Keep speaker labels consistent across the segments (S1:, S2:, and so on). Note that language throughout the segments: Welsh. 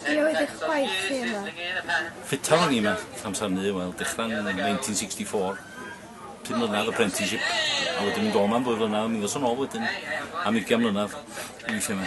S1: Be oedd eich gwaith chi yma? Ffittar o'n
S2: i yma, amser hynny, wel, dechrau'n 1964. Pum mlynedd apprenticeship, a wedyn mynd o'n am ddwy flynedd, a mi ddoson ôl wedyn am ugian mlynedd i weithio yma.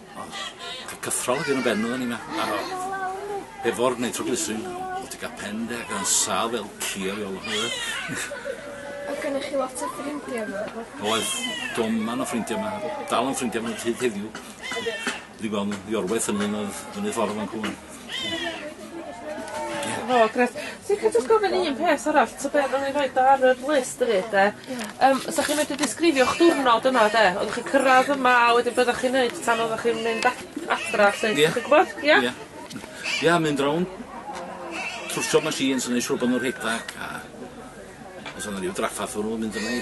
S1: Ond cael cyffro
S2: oedd un o ben oedden ni ma. Ar ôl. Hefo'r nitroglycerin, o' ti ga'l pen de ac yn sâl fel ci ar ôl o Oedd gynnoch
S1: chi lot o ffrindie fo? Oedd.
S2: Doman o ffrindie ma' dal yn ffrindie efo nw hyd heddiw. Ydyn. Dwi gwel' nw i orwedd ffynnu yn y yn y ffordd fan 'cw rŵan.
S3: O grêt. Swn i'n licio jyst gofyn un peth arall ta be' nawn ni roid o ar yr list efyd 'de? Ia. Yym 'sach chi medru disgrifio'ch diwrnod yma 'de? Oddach chi'n cyrradd yma a wedyn be' oddach chi'n neud tan oddach chi'n mynd ad- adra 'lly? Ia. Chi'n gwbod? Ia? Ia. Ia
S2: mynd rownd trwsio machines a neu' siŵr bo' n'w rhedag a os o' 'na ryw draffarth o' nw'n mynd yna i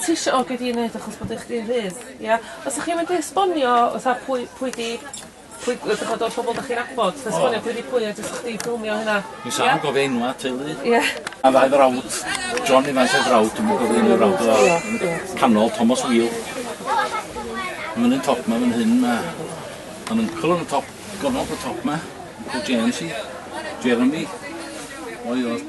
S3: Ti isio o gei di neud achos bod eich di'n rhydd ia? Os 'dych chi'n mynd i esbonio fatha pwy pwy 'di pwy yy dych ch'mod o'r pobol 'dych chi'n nabod jyst esbonio pwy 'di pwy a jyst chdi ffilmio hynna. Ni sâl yn gofio enwa'
S2: teulu. Ie. Ma' ddau
S3: frawd
S2: John Evans ei frawd dwi'm yn cofio enw'r frawd o yy canol Tomos Wheel. Ma' nw'n top 'ma fan hyn ma' ma'n yncl yn y top gornol y top 'ma. Yncl James i Jeremy. Fo yw'r